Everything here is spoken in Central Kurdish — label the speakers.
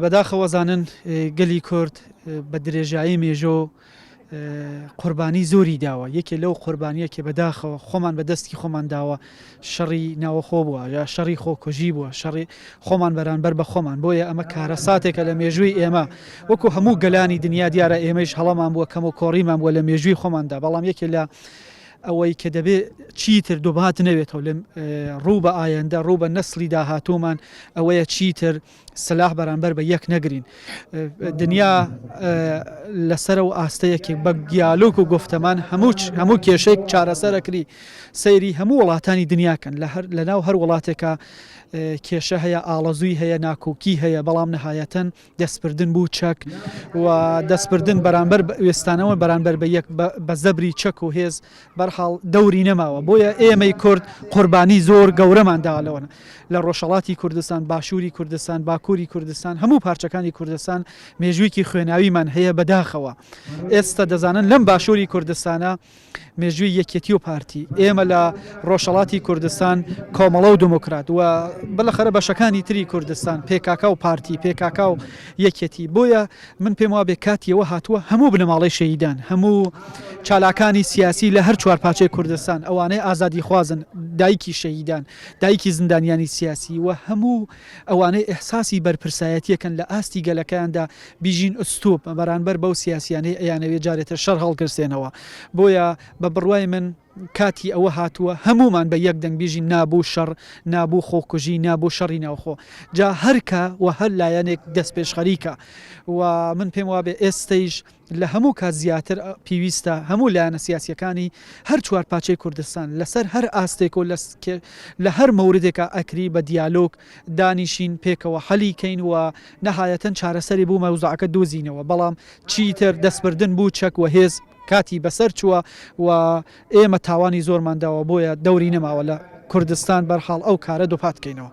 Speaker 1: بەداخەوە زانن گەلی کورد بە درێژایی مێژۆ قوربانی زۆری داوە یەکێ لەو قوربانیە کە بەداخەوە خۆمان بە دەستی خۆمان داوە شەڕی ناوەخۆ بووە یا شەڕی خۆکۆژی بووە شەڕی خۆمان بەرانبەر بە خۆمان بۆیە ئەمە کارە ساتێکە لە مێژووی ئێمە وەکو هەموو گەلانی دنیا دیارە ئێمەش هەڵەمان بووە کەم و کۆڕیمان بووە لە مێژووی خۆماندا بەڵام یەکێ لە ئەوەی کە دەبێت چیتر دوبات نەوێتەوە لە ڕوو بە ئایەندە ڕوو بە نەسلی داهاتومان ئەوەیە چیتر سلاح بەرامبەر بە یەک نەگرین دنیا لەسەر و ئاستەیەکی بە گیالوک و گفتەمان هەموو هەموو کێشێک چارەسەرەکری سەیری هەموو وڵاتانی دنیاکەن لە ناو هەر وڵاتێکە کێشە هەیە ئاڵەزووی هەیە ناکۆکی هەیە بەڵام نەهایەتەن دەستپردن بوو چەک و دەستپردن بەرامبەر وێستانەوە بەرامبەر بە یەک بە زەبری چەک و هێز بەرحاڵ دەوری نەماوە بۆیە ئێمەی کورد قوربانی زۆر گەورەمان داوە لەوەن لە ڕۆژەڵاتی کوردستان باشووری کوردستان باکووری کوردستان هەموو پارچەکانی کوردستان مێژوویکی خوێناویمان هەیە بەداخەوە ئێستا دەزانن لەم باشووری کوردستانە مێژووی یەکێتی و پارتی ئێمە لە ڕۆژەڵاتی کوردستان کۆمەڵە و دموکرات و بەلەخەرە بەشەکانی تری کوردستان پێکاکا و پارتی پێکاکا و یەکێتی بۆیە من پێم وابێ کاتی ئەوە هاتووە هەموو بنەماڵەی شەهیدان، هەموو چالاکانی سیاسی لە هەر چوار پارچەی کوردستان، ئەوانەی ئازادیخوازن، دایکی شەهیدان، دایکی زیندانیانی سیاسی و هەموو ئەوانەی ئیحساسی بەرپرسایەتییەکەن لە ئاستی گەلەکەیاندا بیژین ئوستووپ بەرانبەر بەو سیاسییانەی ئەیانەوێ جارێتر شەڕ هەڵگرسێنەوە. بۆیە بە بڕوای من. کاتی ئەوە هاتووە هەموومان بە یەک دەنگ بیژین نا بو شەڕ، نا بو خۆکوژی، نا بو شەڕی ناوخۆ. جا هەر کە و هەر لایەنێک دەستپێشخەریکە و من پێم وابێ ئێستەیش لە هەموو کات زیاتر پیویستە هەموو لایەنە سیاسیەکانی هەر چوار پاچەی کوردستان لە سەر هەر ئاستێک و لە هەر مەوردێکا ئەکری بە دیالۆگ دانیشین پێکەوە حەلی کەین و نەهایەتەن چارەسەری بو مەوزوعەکە دوزینەوە بەڵام چیتر دەستبردن بو چەک و هێز کاتی بەسەر چووە و ئێمە تاوانی زۆرمان داوە بۆیە دەوری نەماوە لە کوردستان بەرحاڵ ئەو کارە دووپات کەینەوە.